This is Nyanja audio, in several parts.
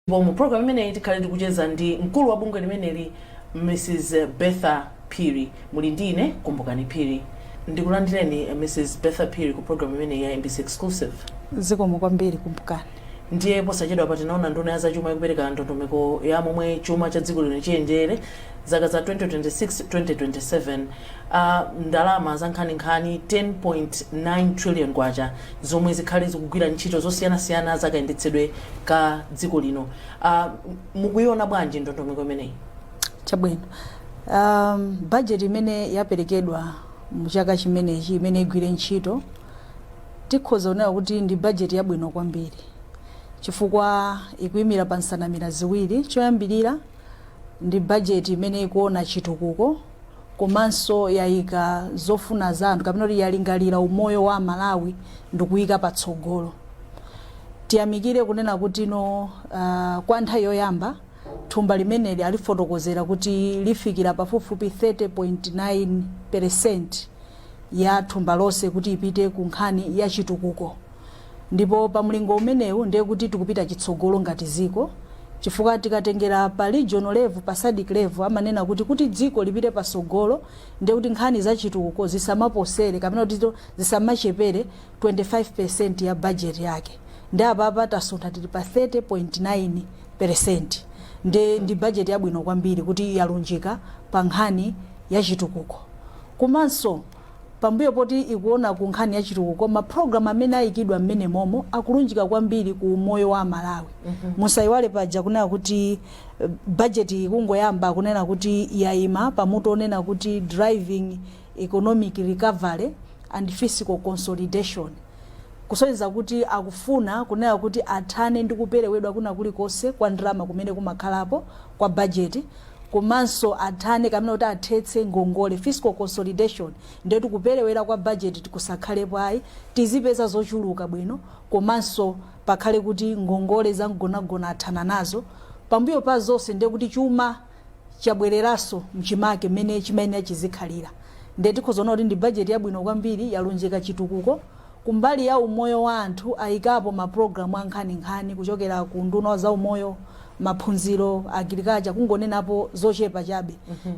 Ndipo mu program imeneyi tikhale tikucheza ndi mkulu wa bungwe limeneli Mrs Bertha Phiri. Muli ndi ine Kumbukani Phiri. Ndikulandireni Mrs Bertha Phiri ku program imeneyi ya MBC Exclusive. Zikomo kwambiri Kumbukani. Ndiye posachedwapa tinaona nduna ya zachuma ikupereka ndondomeko ya momwe chuma cha dziko lino chiyendere zaka za 2026 2027 uh, ndalama zankhaninkhani 10.9 trillion kwacha zomwe zikhale zikugwira ntchito zosiyanasiyana zakayendetsedwe ka dziko lino uh, mukuiona bwanji ndondomeko imeneyi chabwino um, bajeti imene yaperekedwa muchaka chimenechi imene igwire ntchito tikhoza kunena kuti ndi bajeti yabwino kwambiri chifukwa ikuyimira pa nsanamira ziwiri choyambirira ndi bajeti imene ikuona chitukuko komanso yaika zofuna za anthu kapena kuti yalingalira umoyo wa aMalawi ndikuika patsogolo. Tiyamikire kunena kutino uh, kwa nthawi yoyamba thumba limeneli alifotokozera kuti lifikira pafupifupi 30.9 percent ya thumba lonse kuti ipite ku nkhani ya chitukuko. ndipo pa mlingo umenewu ndiye kuti tikupita chitsogolo ngati ziko chifukwa tikatengera pa regional level pa SADC level amanena kuti kuti dziko lipite pasogolo ndiye kuti nkhani za chitukuko zisamaposere kapena kuti zito- zisamachepere 25% ya budget yake ndiye apapa tasuntha tili pa 30.9% ndi ndi budget yabwino kwambiri kuti yalunjika pa nkhani ya chitukuko komanso Pambuyo poti ikuona ku nkhani ya chitukuko, ma program amene ayikidwa mmenemomo akulunjika kwambiri ku umoyo wa aMalawi. Musaiwale paja kunena kuti budget iyi ikungoyamba kunena kuti yaima pa mutu onena kuti driving economic recovery and fiscal consolidation. Kusonyeza kuti akufuna kunena kuti athane ndi kuperewedwa kwina kulikonse kwa ndalama kumene kumakhalapo kwa budget. komanso athane kapena kuti athetse ngongole, fiscal consolidation, ndiye kuti kuperewera kwa bajeti kusakhalepo ayi, tizipeza zochuluka bwino komanso pakhale kuti ngongole zamgonagona athana nazo, pambuyo pa zonse ndiye kuti chuma chabwereranso mchimake mmene chimayenera chizikhalira, ndiye tikhoza kuona kuti ndi bajeti yabwino kwambiri, yalunjika chitukuko. kumbali ya umoyo wa anthu ayikapo ma program ankhaninkhani kuchokera ku unduna wa za umoyo, maphunziro, agriculture kungonenapo zochepa chabe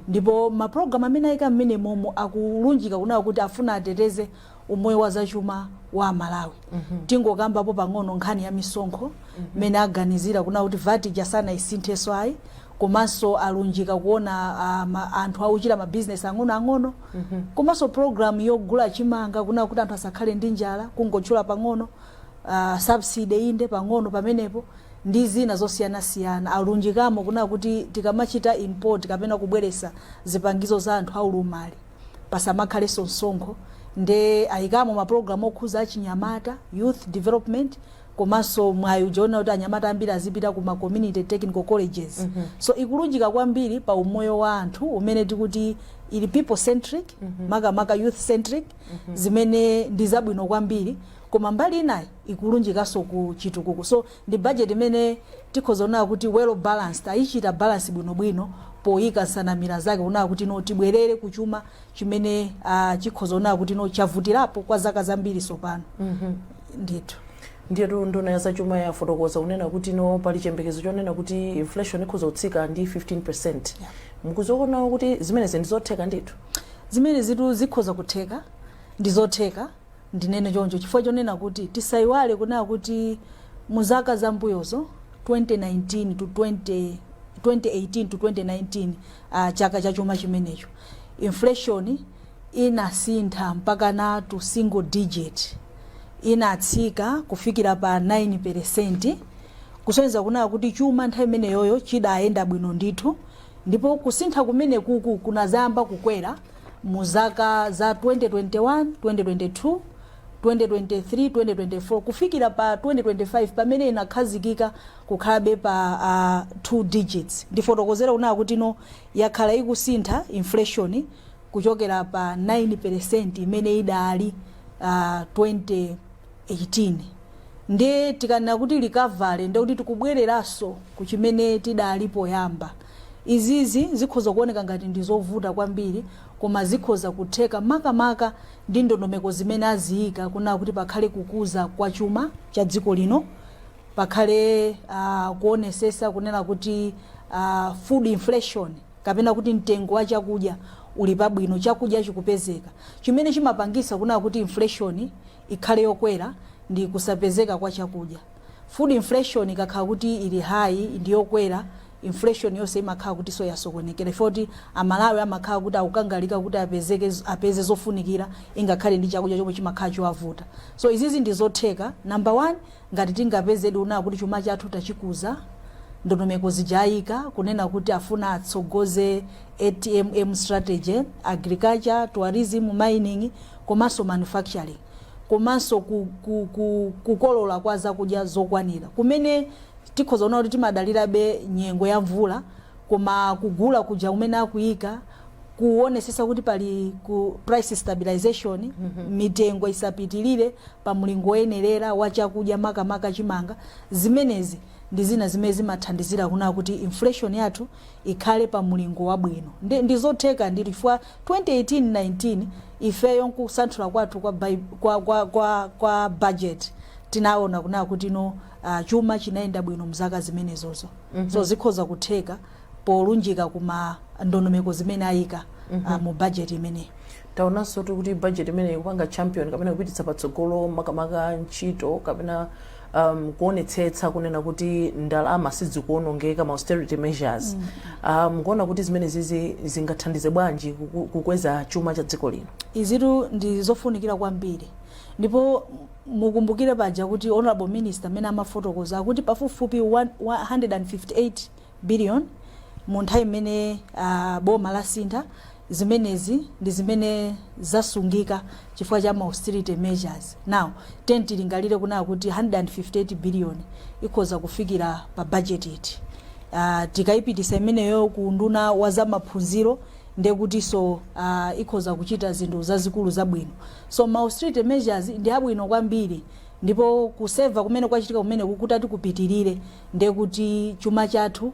ndipo ma program amene ayika m'menemomo akulunjika kunena kuti afuna ateteze umoyo wa za chuma wa amalawi. Tingokambapo pang'ono nkhani ya misonkho m'mene aganizira kunena kuti vat ija sanayisinthenso ayi komanso alunjika kuona ah, ma- anthu akuchita ma business ang'ono ang'ono Komanso program yogula chimanga kunali kuti anthu asakhale ndi njala, kungotchula pang'ono, uh, subsidy inde pang'ono pamenepo ndi zina zosiyanasiyana alunjikamo kunali kuti tikamachita import kapena kubweresa zipangizo za anthu aulumali pasamakhalenso msonkho nde ayikamo maprogramu okhuza achinyamata youth development komanso mwayi uja onena kuti anyamata ambiri azipita ku ma community technical colleges so ikulunjika kwambiri pa umoyo wa anthu umene tikuti ili people centric makamaka youth centric zimene ndi zabwino kwambiri koma mbali inayi ikulunjikanso ku chitukuko so ndi budget imene tikhoza kunena kuti well balanced ayichita balance bwinobwino poyika nsanamira zake kunena kuti no tibwerere ku chuma chimene ah, chikhoza kunena kuti no chavutirapo kwa zaka zambiri so pano ndithu. Ndiyetu nduna ya zachuma yafotokoza kunena kuti no pali chiyembekezo chonena kuti inflation ikhoza kutsika ndi 15%. Mukuziona kuti zimenezi ndi zotheka ndithu? Zimenezitu zikhoza kutheka ndi zotheka ndinene choncho chifukwa chonena kuti tisayiwale kunena kuti mu zaka zambuyozo 2019 to 20 2018 to 2019 uh, chaka cha chuma chimenecho inflation inasintha mpakana to single digit, inatsika kufikira pa 9 peresenti, kusonyeza kunaa kuti chuma nthawi imeneyoyo chidayenda bwino ndithu, ndipo kusintha kumeneku kunadzayamba kukwera mu zaka za 2021, 2022, 2023, 2024 kufikira pa 2025 pamene inakhazikika kukhalabe pa a 2 digits. Ndifotokozere kunaa kuti ino yakhala ikusintha inflation kuchokera pa 9 peresenti imene idali uh, 2018 nde tikanena kuti recovery ndekuti tikubwereranso ku chimene tidali poyamba izizi zikhoza kuoneka ngati ndi zovuta kwambiri koma zikhoza kutheka makamaka ndi ndondomeko zimene aziyika kunena kuti pakhale kukuza kwa chuma cha dziko lino pakhale uh, kuonesesa kunena kuti uh, food inflation kapena kuti mtengo wa chakudya uli pabwino, chakudya chikupezeka, chimene chimapangisa kunaa kuti inflation ikhale yokwera ndi kusapezeka kwa chakudya. Food inflation ikakhala kuti ili high ndi yokwera, inflation yonse imakhala kutiso yasokonekera chifukwa kuti a Malawi amakhala kuti akukangalika kuti apezeke, apeze zofunikira ingakhale ndi chakudya chomwe chimakhala chowavuta. So izizi ndi zotheka, number one, Ngati tingapezedi kunena kuti chuma chathu tachikuza, ndondomeko zija ayika kunena kuti afuna atsogoze ATMM strategy, Agriculture, Tourism, Mining komanso Manufacturing komanso ku ku ku kukolola kwa zakudya zokwanira kumene tikhoza kunena kuti timadalirabe nyengo ya mvula koma kugula kuja kumene akuika kuonesesa kuti pali price stabilization mm -hmm. mitengo isapitilire pa mlingo oyenerera wa chakudya makamaka chimanga zimenezi ndi zina zimene zimathandizira kuna kuti inflation yathu ikhale pa mlingo wabwino ndi, ndi zotheka ndi chifukwa 2018-19 ifeyo nkusanthula kwathu kwa, bai- kwa, kwa, kwa, kwa budget tinaona kuna kuti no uh, chuma chinayenda bwino mzaka zimenezozo mm -hmm. so zikhoza kutheka polunjika kuma ndondomeko zimene ayika mm -hmm. uh, mu budget imeneyi taonanso kuti budget imeneyi ikupanga champion kapena kupititsa patsogolo makamaka ntchito kapena um, kuonetsetsa kunena kuti ndalama sizikuonongeka ma austerity measures mukuona um, kuti zimenezizi zingathandize bwanji kuku- kukweza chuma cha dziko lino izitu ndi zofunikira kwambiri ndipo mukumbukire paja kuti Honourable Minister mmene amafotokoza akuti pafupifupi 1 158 billion mu nthawi imene boma lasintha zimenezi ndi zimene zasungika chifukwa cha ma austerity measures now tiyeni tilingalire kunena kuti 158 billion ikhoza kufikira pa budget iti uh, tikayipitisa imeneyo ku unduna wa zamaphunziro ndekutinso uh, ikhoza kuchita zinthu zazikulu zabwino So ma austerity measures ndi abwino kwambiri ndipo kuseva kumene kwachitika kumeneku kutati kupitilire ndiye kuti chuma chathu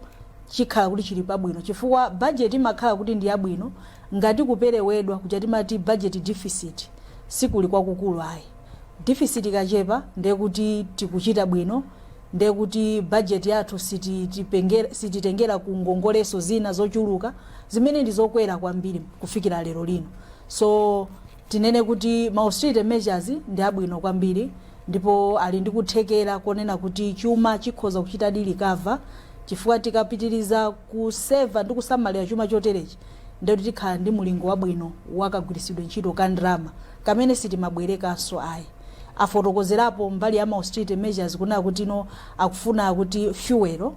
chikhala kuti chili pabwino chifukwa budget imakhala kuti ndi yabwino ngati kuperewedwa kuja timati budget deficit sikuli kwakukulu ayi deficit ikachepa ndiye kuti tikuchita bwino ndiye kuti budget yathu sititipengera- sititengera ku ngongoleso zina zochuluka zimene ndi zokwera kwambiri kufikira lero lino So tinene kuti ma austerity measures ndi abwino kwambiri ndipo ali ndi kuthekera konena kuti chuma chikhoza kuchitadi recover chifukwa tikapitiriza kuseva ndi kusamalira chuma choterechi ndiye kuti tikhala ndi mulingo wabwino wakagwiritsidwe ntchito ka ndalama kamene sitimabwerekanso ayi afotokozerapo mbali ya ma austerity measures kunena kuti no akufuna kuti fuel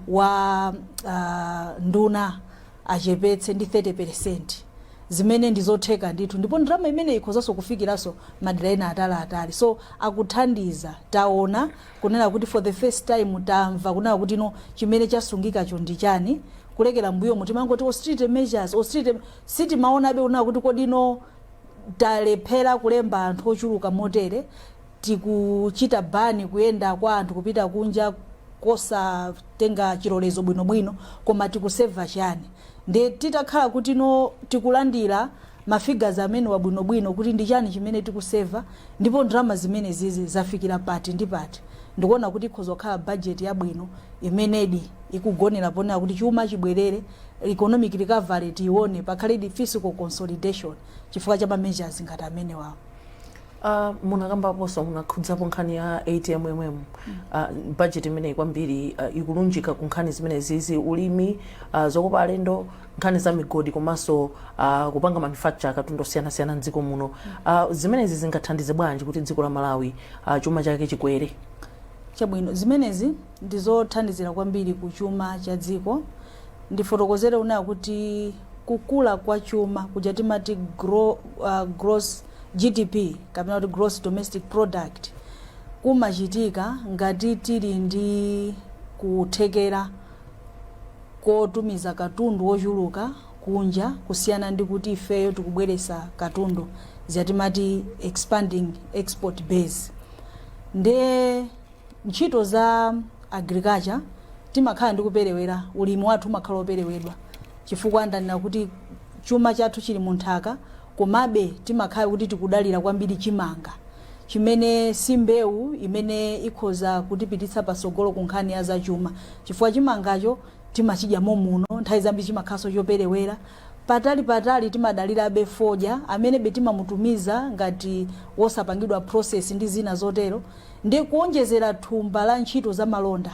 wa ah, nduna achepetse ndi 30 percent zimene ndi zotheka ndithu ndipo ndalama imeneyi ikhozanso kufikiranso madera ena ataliatali so akuthandiza taona kunena kuti for the first time tamva kunena kuti no chimene chasungikacho ndi chani kulekera mbuyomo timangoti austerity measures austerity sitimaonabe kunena kuti kodi no talephera kulemba anthu ochuluka motere tikuchita ban kuyenda kwa anthu kupita kunja kosatenga chilolezo bwino bwino koma tikusave chani? Nde titakhala kutino tikulandira ma figures amenewa bwino bwino kuti ndi chani chimene tikusave ndipo ndalama zimenezizi zafikira pati ndi pati? Ndikuona kuti ikhoza kukhala budget yabwino imenedi ikugonera ponena kuti chuma chibwerere, economic recovery tiione, pakhaledi fiscal consolidation chifukwa cha ma measures ngati amenewawo. Uh, munakambaponso munakhudzapo nkhani ya ATMM uh, budget imeneyi kwambiri uh, ikulunjika ku nkhani zimenezizi ulimi uh, zokopa alendo nkhani za migodi komanso uh, kupanga manufacture katundu osiyanasiyana mdziko muno uh, zimenezi zingathandize bwanji kuti dziko la Malawi uh, chuma chake chikwere chabwino zimenezi ndizothandizira kwambiri ku chuma cha dziko. Ndifotokozere kunena kuti kukula kwa chuma kuja timati gro, uh, gross GDP kapena kuti gross domestic product kumachitika ngati tili ndi kuthekera kotumiza katundu wochuluka kunja kusiyana ndi kuti ifeyo tikubweretsa katundu zija timati expanding export base nde ntchito za agriculture timakhala ndi kuperewera ulimi wathu umakhala woperewedwa chifukwa ndanena kuti chuma chathu chili mu nthaka komabe timakhala kuti tikudalira kwambiri chimanga chimene si mbewu imene ikhoza kutipititsa patsogolo ku nkhani ya zachuma chifukwa chimangacho timachidya momuno nthawi zambiri chimakhalanso choperewera Patali patali timadalirabe fodya amenebe timamutumiza ngati wosapangidwa process ndi zina zotero nde kuonjezera thumba la ntchito za malonda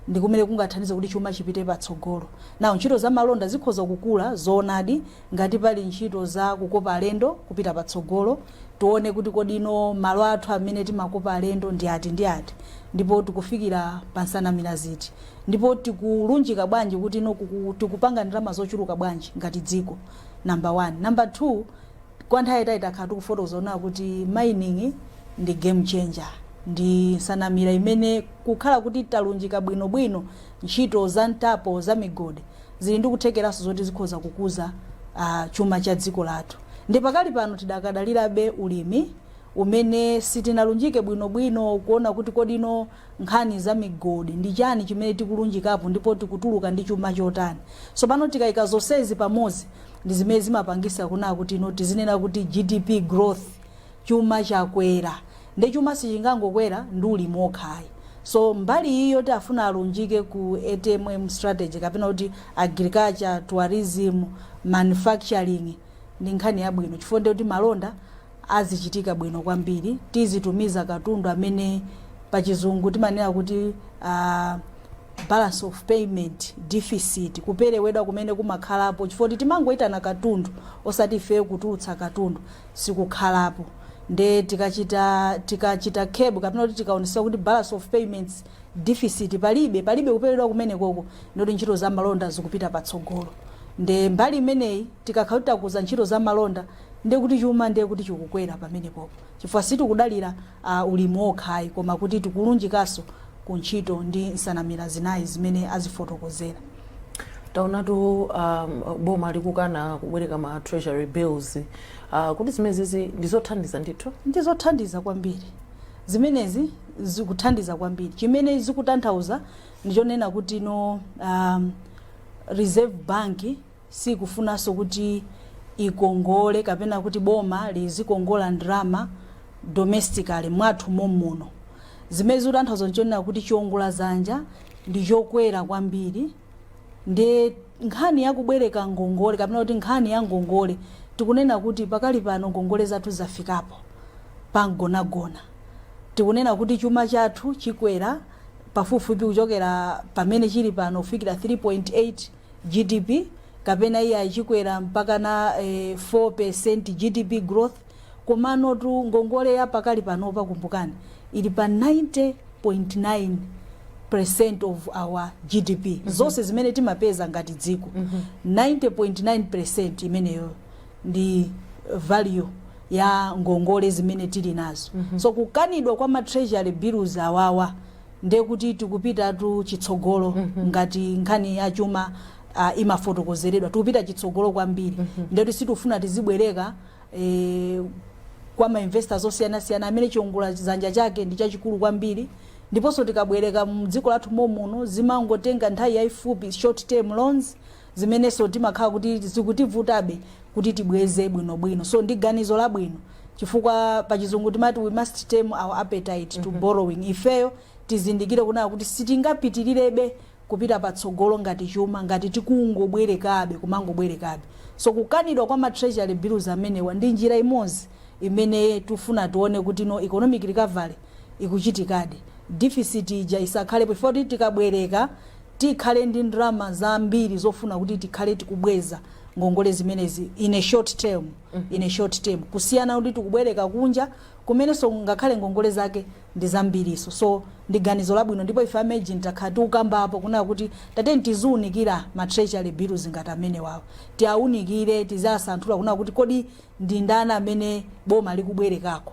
ndikumene kungathandize kuti chuma chipite patsogolo. Now ntchito za malonda zikhoza kukula zoonadi ngati pali ntchito za kukopa alendo kupita patsogolo tione kuti kodino malo athu amene timakopa alendo ndi ati ndi ati ndipo tikufikira pa nsanamira ziti. Ndipo tikulunjika bwanji kutino kuku, tikupanga ndalama zochuluka bwanji ngati dziko, number one. Number two, kwa nthawi yaitali takhala tikufotokoza kunena kuti mining ndi game changer, ndi nsanamira imene kukhala kuti talunjika bwino bwino ntchito za mtapo za migodi, zili ndi kuthekeranso zoti zikhoza kukuza a, chuma cha dziko lathu. Nde pakali pano tidakadalirabe ulimi, umene sitinalunjike bwino bwino kuona kuti kodino nkhani za migodi, ndi chani chimene tikulunjikapo ndipo tikutuluka ndi chuma chotani. So pano tikaika zonsezi pamodzi ndi zimene zimapangitsa kunena kuti you know tizinena kuti GDP growth chuma chakwera. Nde chuma sichingangokwera ndi ulimi wokha ayi. So mbali iyi yoti afuna alunjike ku ATMM strategy kapena kuti agriculture, tourism, manufacturing ndi nkhani yabwino chifukwa ndiye kuti malonda azichitika bwino kwambiri tizitumiza katundu amene pachizungu timanena kuti uh, balance of payment deficit kuperewedwa kumene kumakhalapo chifukwa kuti timangoyitana katundu osati ifeyo kutulutsa katundu sikukhalapo nde tikachita tikachita kebu kapena kuti tikaonesa kuti balance of payments deficit palibe palibe kuperewedwa kumene koko ndoti ntchito za malonda zikupita patsogolo nde mbali imeneyi tikakhala kuti takuza ntchito za malonda Ndiye kuti chuma ndiye kuti chikukwera pamenepopo chifukwa sitikudalira a, ulimi wokha ayi koma kuti tikulunjikanso ku ntchito ndi nsanamira zina izi zimene azifotokozera. taonatu um, boma likukana kubwereka ma treasury bills uh, kuti zimenezi ndizothandiza ndithu ndi zothandiza kwambiri zimenezi zikuthandiza kwambiri chimene zikutanthauza ndichonena kuti no um, reserve bank siikufunanso kuti ikongole kapena kuti boma lizikongola ndalama domestically, mwathu momuno. Zimene zikutanthauza n'chonena kuti chiongoladzanja ndi chokwera kwambiri ndiye nkhani ya kubwereka ngongole kapena kuti nkhani ya ngongole tikunena kuti pakali pano ngongole zathu zafikapo pamgonagona. Tikunena kuti chuma chathu chikwera pafupifupi kuchokera pamene chili pano kufikira 3.8. GDP kapena iyayi chikwera mpakana eh, 4% GDP growth komanotu ngongole ya pakali panopa kumbukani ili pa 90.9% of our GDP mm -hmm. zonse zimene timapeza ngati dziko mm -hmm. 90.9% imeneyo ndi value ya ngongole zimene tili nazo mm -hmm. so kukanidwa kwa ma treasury bills awawa nde kuti tikupitatu chitsogolo ngati nkhani ya chuma ah, imafotokozeredwa tikupita chitsogolo kwambiri nde kuti sitifuna tizibwereka eh, kwa mainvestors osiyanasiyana amene chiongoladzanja chake ndi chachikulu kwambiri ndiponso tikabwereka mdziko lathu momuno zimangotenga nthawi yayifupi short term loans zimenenso timakhala kuti zikutivutabe kuti tibweze bwinobwino so ndi ganizo labwino chifukwa pa chizungu timati we must tame our appetite to borrowing ifeyo tizindikire kunena kuti sitingapitilirebe kupita patsogolo ngati chuma ngati tikungobwerekabe kumangobwerekabe so kukanidwa kwa ma treasury bills amenewa ndi njira imodzi imene tifuna tione kuti no economic recovery ikuchitikadi deficit ija isakhalepo chifukwa kuti tikabwereka tikhale ndi ndalama zambiri zofuna kuti tikhale tikubweza ngongole zimenezi in a short term, in a short term. kusiyana kuti tikubwereka kunja kumenenso ngakhale ngongole zake ndi zambiriso so ndi ganizo labwino ndipo ife a MEJN takhala tikukambapo kunena kuti tatiyeni tiziunikira ma treasury bills ngati amenewawa tiaunikire tiziasanthula kunena kuti kodi ndi ndani amene boma likubwerekako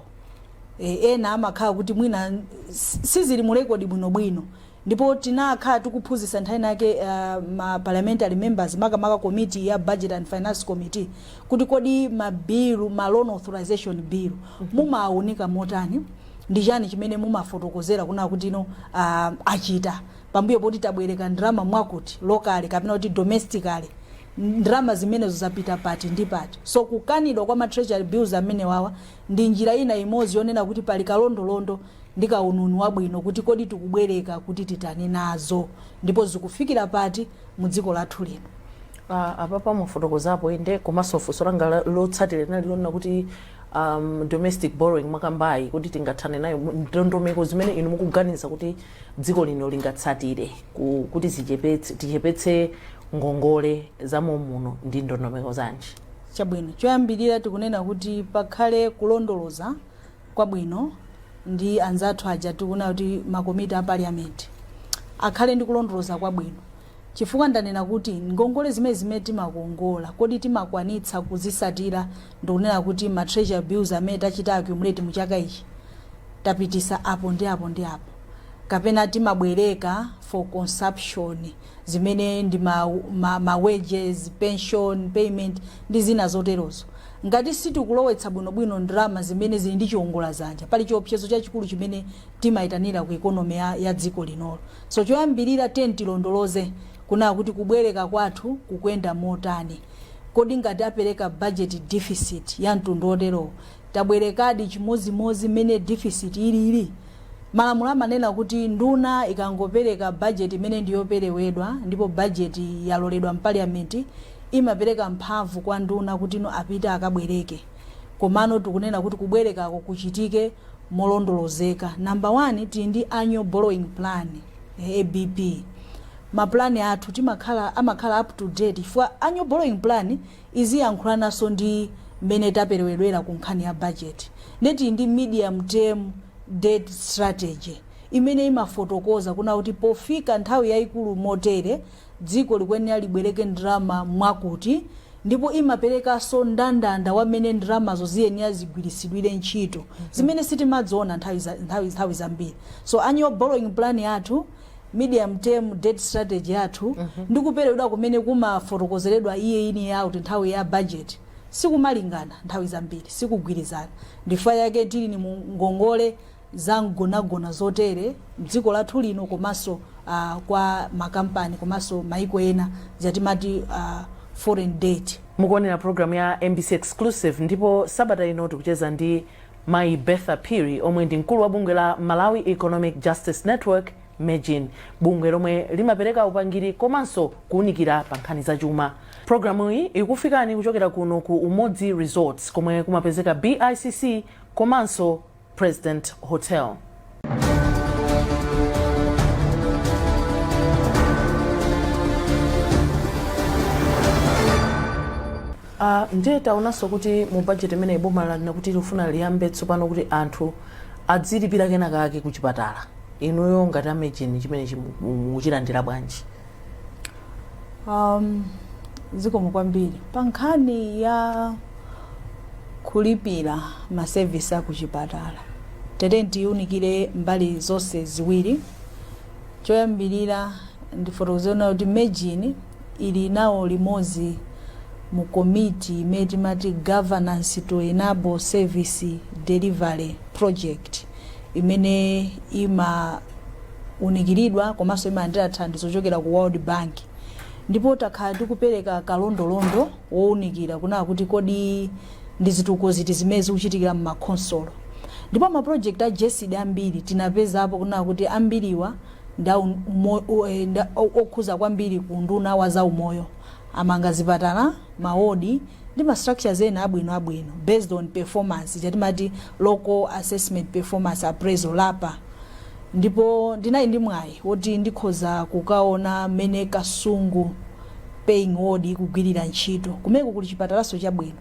e, ena amakhala kuti mwina s- sizili mu rekodi bwinobwino Ndipo tinakhala tikuphunzitsa nthawi inayake a, ma parliamentary members, makamaka komiti ya Budget and Finance Committee, kuti kodi ma bill, ma loan authorization bill, mumawaunika motani, ndi chani chimene mumafotokozera kunena kuti inu a, apita pambuyo poti tabwereka ndalama mwakuti, locally kapena kuti domestically, ndalama zimenezo zapita pati ndi pati. So kukanidwa kwa ma treasury bills amenewawa ndi njira ina imodzi yonena kuti pali kalondolondo. ndi kauniuni wabwino kuti kodi tikubwereka kuti titani nazo ndipo zikufikira pati mu dziko lathu lino. Ah, apapa mwafotokozapo inde komanso funso langa la- lotsatira linali lonena kuti um, domestic borrowing mwakambayi kodi tingathane nayo mu- ndondomeko zimene inu mukuganiza kuti dziko lino lingatsatire ku- kuti zichepetse- tichepetse ngongole za momuno ndi ndondomeko zanji chabwino choyambirira tikunena kuti pakhale kulondoloza kwabwino ndi anzathu aja tikunena kuti makomiti a parliament akhale ndi kulondoloza kwabwino chifukwa ndanena kuti ngongole zimene zimene timakongola kodi timakwanitsa kuzisatira ndikunena kuti ma treasury bills amene tachita accumulate mu chaka ichi tapitisa apo ndi apo ndi apo kapena timabwereka for consumption zimene ndi ma, ma, ma wages pension payment ndi zina zoterozo Ngati sitikulowetsa bwinobwino ndalama zimene zili ndi chiongola zanja, pali chiopsezo chachikulu chimene timaitanira ku economy ya ya dziko linolo. So choyambirira tiyeni tilondoloze kunena kuti kubwereka kwathu kukuyenda motani. Kodi ngati apereka budget deficit ya mtundu oterowo, tabwerekadi chimodzimodzi mmene deficit ilili? Malamulo amanena kuti nduna ikangopereka bajeti imene ndi yoperewedwa ndipo bajeti yaloredwa mpaliyamenti, imapereka mphamvu kwa nduna kuti no apite akabwereke. Komano tikunena kuti kubwerekako kuchitike molondolozeka. Number one, tili ndi annual borrowing plan, ABP. Ma plan athu timakhala, amakhala up to date chifukwa annual borrowing plan iziyankhulananso ndi mmene taperewedwera ku nkhani ya bajeti nde tili ndi medium term debt strategy imene imafotokoza kuna kuti pofika nthawi yaikulu motere dziko likuyenera libwereke ndalama mwakuti ndipo imaperekanso ndandanda wa mmene ndalamazo ziyenera zigwiritsidwire ntchito zimene sitimadziona nthawi za- nthawi- nthawi zambiri so annual borrowing plan yathu medium term debt strategy yathu mm -hmm. ndi kuperewedwa kumene kumafotokozeredwa iye ini ya kuti nthawi ya budget sikumalingana nthawi zambiri sikugwirizana ndifukwa yake tilini mu ngongole za mgonagona zotere mdziko lathu lino komanso uh, kwa makampani komanso maiko ena zatimati uh, foreign debt mukuonera programu ya mbc exclusive ndipo sabata ino tikucheza ndi Mayi Bertha Phiri omwe ndi mkulu wa bungwe la Malawi Economic Justice Network, Mejn, bungwe lomwe limapereka upangiri komanso kuunikira pa nkhani za chuma. Programuyi ikukufikani kuchokera kuno ku Umodzi Resorts komwe kumapezeka BICC komanso President Hotel. Uh, ndiye taonanso kuti mu budget imeneyi boma lanena kuti likufuna liyambe tsopano kuti anthu adzilipira kena kake ku chipatala inuyo ngati a Mejn chimene chimu- mu- mukuchilandira bwanji Um, zikomo kwambiri pa nkhani ya kulipira masevisi akuchipatala tere tiunikire mbali zonse ziwiri choyambirira ndifotokoze kunena kuti Mejn ili nawo limodzi mu komiti imene timati governance to enable service delivery project imene imaunikiridwa komanso imalandira thandizo kuchokera ku world bank ndipo takhala tikupereka kalondolondo wounikira kunena kuti kodi ndi zitukuko ziti zimene zikuchitikira mmakhonsolo ndipo mapulojekiti a GESD ambiri tinapezapo kunena kuti ambiriwa nda umo- u- eh, nda- o- okhuza kwambiri ku unduna wa zaumoyo amanga zipatala mawodi ndi ma structures ena abwino abwino based on performance cha timati local assessment performance appraisal lapa ndipo ndinali ndi mwayi woti ndikhoza kukaona mmene kasungu paying ward ikugwirira ntchito kumeko kuli chipatalaso chabwino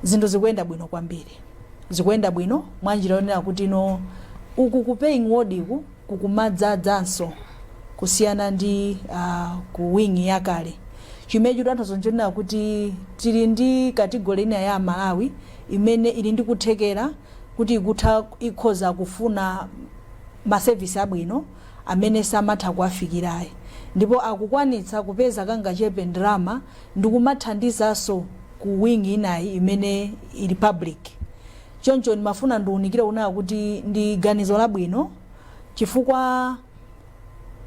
zinthu zikuyenda bwino kwambiri zikuyenda bwino mwanjira yonena kuti no uku ku paying ward ku kukumadzadzaso kusiyana ndi uh, ku wing yakale chimene chikutanthauza nchonena kuti tili ndi katigoli ina ya amalawi imene ili ndi kuthekera kuti ikutha ikhoza kufuna masevisi abwino amene samatha kuwafikirayi ndipo akukwanitsa kupeza kangachepe ndalama ndi kumathandizanso ku wing inayi imene ili public Choncho ndimafuna ndiunikire kunena kuti ndi ganizo labwino chifukwa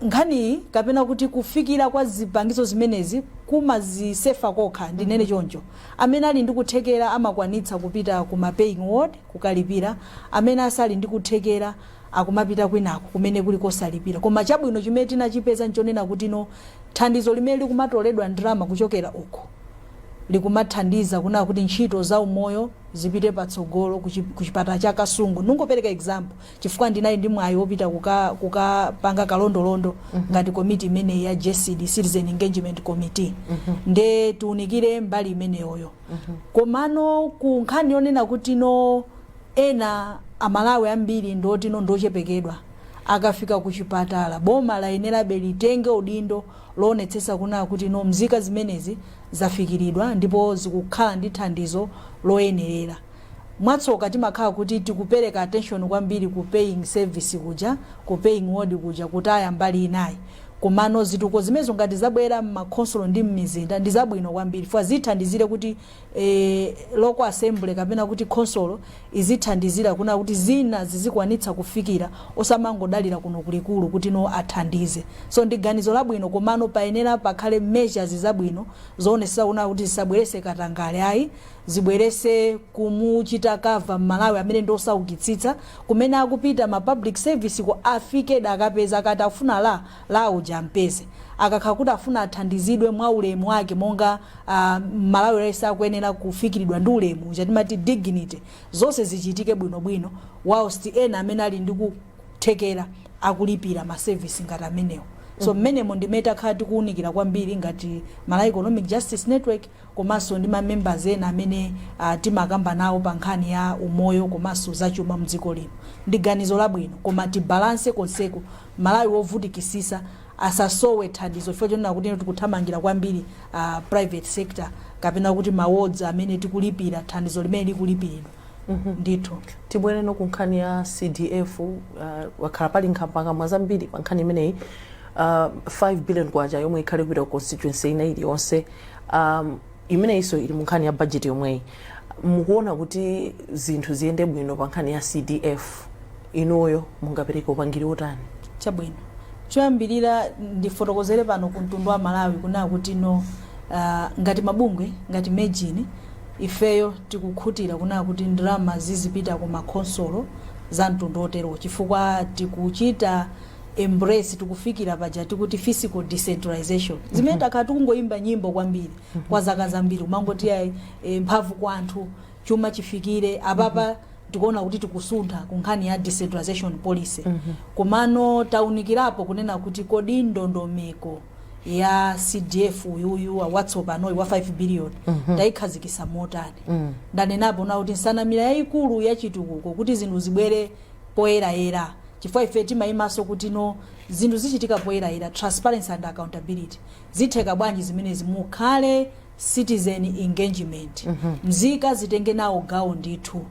nkhaniyi kapena kuti kufikira kwa zipangizo zimenezi kumazisefa kokha, ndinene choncho. Amene ali ndi kuthekera amakwanitsa kupita ku ma paying ward kukalipira, amene asali ndi kuthekera akumapita kwinako kumene kuli kosalipira. Koma chabwino chimene tinachipeza nchonena kutino thandizo limene likumatoledwa ndalama kuchokera uko, likumathandiza kunena kuti ntchito za umoyo zipite patsogolo ku chi ku chipatala cha Kasungu ndingopereka example chifukwa ndinali ndi mwayi wopita kuka kukapanga kalondolondo ngati komiti imeneyi ya JCD Citizen Engagement Committee nde tiunikire mbali imeneyoyo komano ku nkhani yonena kuti no ena aMalawi ambiri ndiotino ndiochepekedwa akafika ku chipatala boma layenerabe litenge udindo loonetsetsa kuna kuti no mzika zimenezi zafikiridwa ndipo zikukhala ndi thandizo loyenerera. Mwatsoka timakhala kuti tikupereka attention kwambiri ku paying service kuja, ku paying ward kuja kutaya mbali inayi. Komano zitukuko zimenezo ngati zabwera mmakhonsolo ndi mmizinda ndizabwino kwambiri chifukwa zithandizire kuti e, local assembly kapena kuti khonsolo izithandizira kuna kuti zina zizikwanitsa kufikira osamangodalira kuno kulikulu kuti no athandize so ndi ganizo labwino komano payenera pakhale measures zabwino zoonetsetsa kuna kuti zisabwerese katangale ayi zibwerese kumuchita cover mMalawi amene ndi osaukitsitsa kumene akupita ma public service ko afike akapeza kuti afuna dota lo uja ampeze. Akakhala kuti afuna athandizidwe mwa ulemu wake monga mMalawi aliyense akuyenera kufikiridwa ndi ulemu uja timati dignity, zonse zichitike bwino bwino whilst ena amene ali ndi kuthekera akulipira ma service ngati amenewo. So mmenemo ndimene takhala tikuunikira kwambiri ngati Malawi Economic Justice Network. komanso ndi ma members ena amene timakamba nawo pa nkhani ya umoyo komanso za chuma mdziko lino ndi ganizo labwino koma tibalance konseko mMalawi wovutikisisa asasowe thandizo chifukwa chonena kuti tikuthamangira kwambiri uh, private sector kapena kuti ma wards amene tikulipira thandizo limene likulipiridwa ndithu tibwereno ku nkhani ya CDF uh, kwakhala pali nkhambakamwa zambiri pa nkhani imeneyi uh, 5 billion kwacha yomwe ikhale kupita ku constituency ina iliyonse um, imeneyinso ili mu nkhani ya budget yomweyi mukuona kuti zinthu ziyende bwino pa nkhani ya CDF inuyo mungapereke upangiri wotani chabwino choyambirira ndifotokozere pano ku mtundu wa Malawi kunena kuti no uh, ngati mabungwe ngati MEJN Ifeyo tikukhutira kunena kuti ndalama zizipita ku ma khonsolo za mtundu oterowo chifukwa tikuchita embrace, tikufikira paja tikuti fiscal decentralization zimene takhala tikungoimba nyimbo kwambiri kwa zaka zambiri kumangoti iyayi mphamvu kwa anthu, chuma chifikire, apapa tikuona kuti tikusuntha ku nkhani ya decentralization policy. Komano taunikirapo kunena kuti kodi ndondomeko. ya cdf uyuyu yatsopanoyi wa 5 billion tayikhazikisa motani ndanenapo na kuti nsanamira yayikulu ya chitukuko kuti zinthu zibwere poyerayera chifukwa ife timayimaso kuti no zinthu zichitika poyerayera transparency and accountability zitheka bwanji zimenezi mukhale citizen engagement mzika zitenge nawo gawo ndithu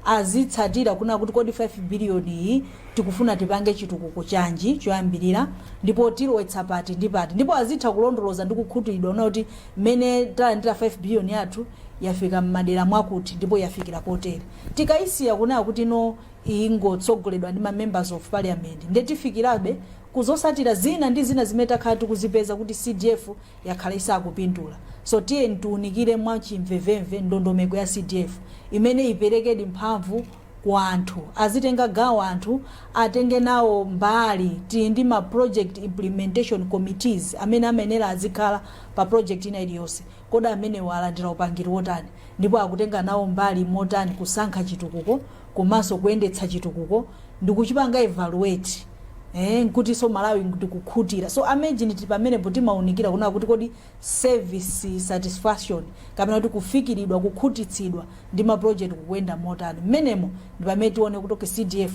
azitsatira kuna kuti kodi 5 billion iyi tikufuna tipange chitukuko chanji choyambirira ndipo tilowetsa pati ndi pati ndipo azitha kulondoloza ndi kukhutiridwa kuna kuti mmene talandira 5 billion yathu yafika mmadera mwakuti ndipo yafikira potere tikayisiya kunena kuti no ingotsogoledwa ndi ma members of parliament nde tifikirabe kuzotsatira zina ndi zina zimene takhala tikuzipeza kuti cdf yakhala isakupindula. So tiyeni tiunikire mwa chimvemvemve ndondomeko ya CDF imene iperekedi mphamvu ku anthu. Azitenga gawo anthu, atenge nawo mbali. Tili ndi ma project implementation committees amene amayenera azikhala pa project ina iliyonse. Kodi amenewa alandira upangiri wotani? Ndipo akutenga nawo mbali motani kusankha chitukuko? komanso kuyendetsa chitukuko ndikuchipanga evaluate eh, nkutinso malawi ndikukhutira so a Mejini tili pamenepo timaunikira kunena kuti kodi service satisfaction kapena kuti kufikiridwa kukhutitsidwa ndi maproject kukuyenda motani mmenemo ndi pamene tione kuti okay, cdf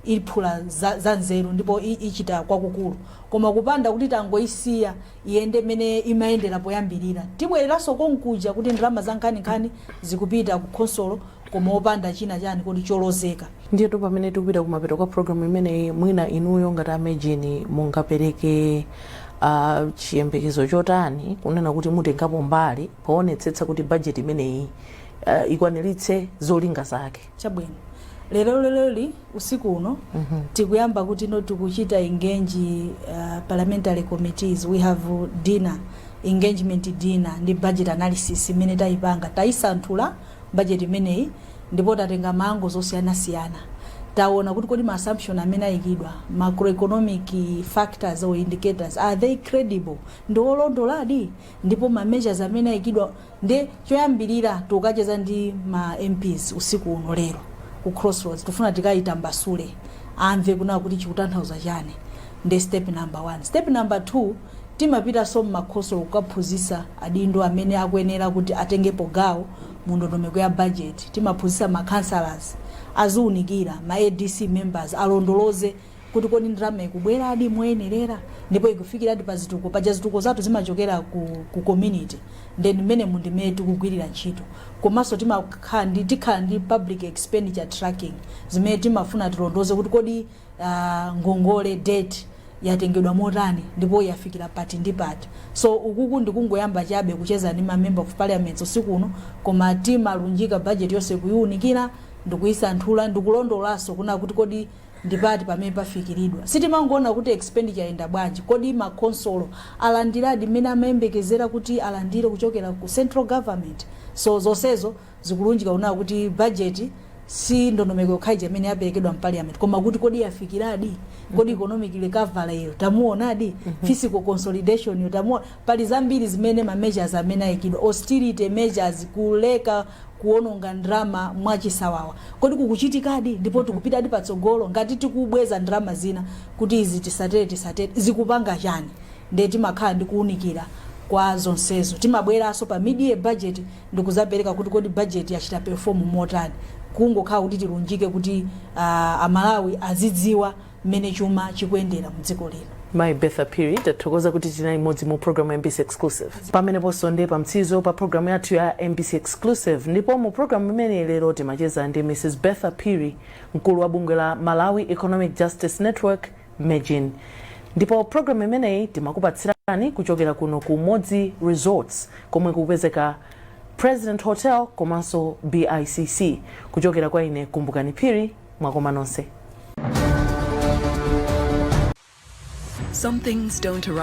iphula za, za nzeru ndipo i- ichita kwakukulu koma kupanda kuti tangoyisiya iyende mene imayendera poyambirira tibwereranso konkuja kuti ndalama za nkhaninkhani zikupita ku khonsolo koma opanda china chani kodi cholozeka. Ndiyetu pamene tikupita kumapeto kwa program imeneyi mwina inuyo ngati a Mejini mungapereke a chiyembekezo chotani kunena kuti mutengapo mbali poonetsetsa kuti budget imeneyi ah, ikwaniritse zolinga zake. chabwino lero leroli usiku uno tikuyamba kuti no tikuchita engage uh, parliamentary committees we have dinner engagement dinner ndi budget analysis imene tayipanga tayisanthula budget imeneyi ndipo tatenga ma angles osiyanasiyana. Taona kuti kodi ma assumption amene ayikidwa, macroeconomic factors or indicators, are they credible? Ndi olondoladi? Ndipo ma measures amene ayikidwa nde choyambirira tukacheza ndi ma MPs usiku uno lero ku Crossroads tufuna tikayitambasule amve kuna kuti chikutanthauza chani ndi step number one. Step number two Timapitanso mmakhonsolo kukaphunzitsa adindo amene akuyenera kuti atengepo gawo mu ndondomeko ya budget, timaphunzitsa ma councillors, aziunikira, ma adc members alondoloze kuti kodi ndalama ikubweradi moyenerera ndipo ikufikiradi pa zitukuko, paja zitukuko zathu zimachokera ku ku community nde ndi mmenemu ndi mmene tikugwirira ntchito. Komanso timakhala ndi tikhala ndi public expenditure tracking zimene timafuna tilondoloze kuti kodi. ngongole debt yatengedwa motani ndipo yafikira pati ndi pati so ukuku ndikungoyamba chabe kucheza ndi ma member of parliament usiku uno koma timalunjika budget yonse kuyiunikira ndikuyisanthula ndikulondolaso kuona kuti kodi ndipati pamene pafikiridwa sitimangoona kuti expenditure yenda bwanji kodi makhonsolo alandiradi mmene amayembekezera kuti alandire kuchokera ku central government so zonsezo Zikulunjika kunena kuti budget si ndondomeko yokha ija imene yaperekedwa mpaliyamenti koma kuti kodi yafikiradi kodi economic recovery yo tamuonadi fiscal consolidation yo tamuona pali zambiri zimene ma measures amene ayikidwa austerity measures kuleka kuononga ndalama mwachisawawa kodi kukuchitikadi ndipo tikupitadi patsogolo ngati tikubweza ndalama zina kuti izi tisatere tisatere zikupanga chani ndiye timakhala ndi kuunikira kwa zonsezo timabweranso pa mid-year budget ndikuzapereka kuti kodi budget yachita perform motani kungokhala kuti tilunjike kuti uh, amalawi azidziwa mmene chuma chikuyendera mdziko lino mayi bertha phiri tathokoza kuti tinali limodzi mu programu ya mbc exclusive pameneponso ndi pamtsizo pa programu yathu ya mbc exclusive ndipo mu programu imeneyi lero timacheza ndi mrs bertha phiri mkulu wa bungwe la malawi economic justice network Mejn. Ndipo program imeneyi timakupatsirani kuchokera kuno ku Umodzi Resorts komwe kukupezeka President Hotel komanso BICC. Kuchokera kwa ine Kumbukani Phiri, mwakoma nonse. Some things don't arrive.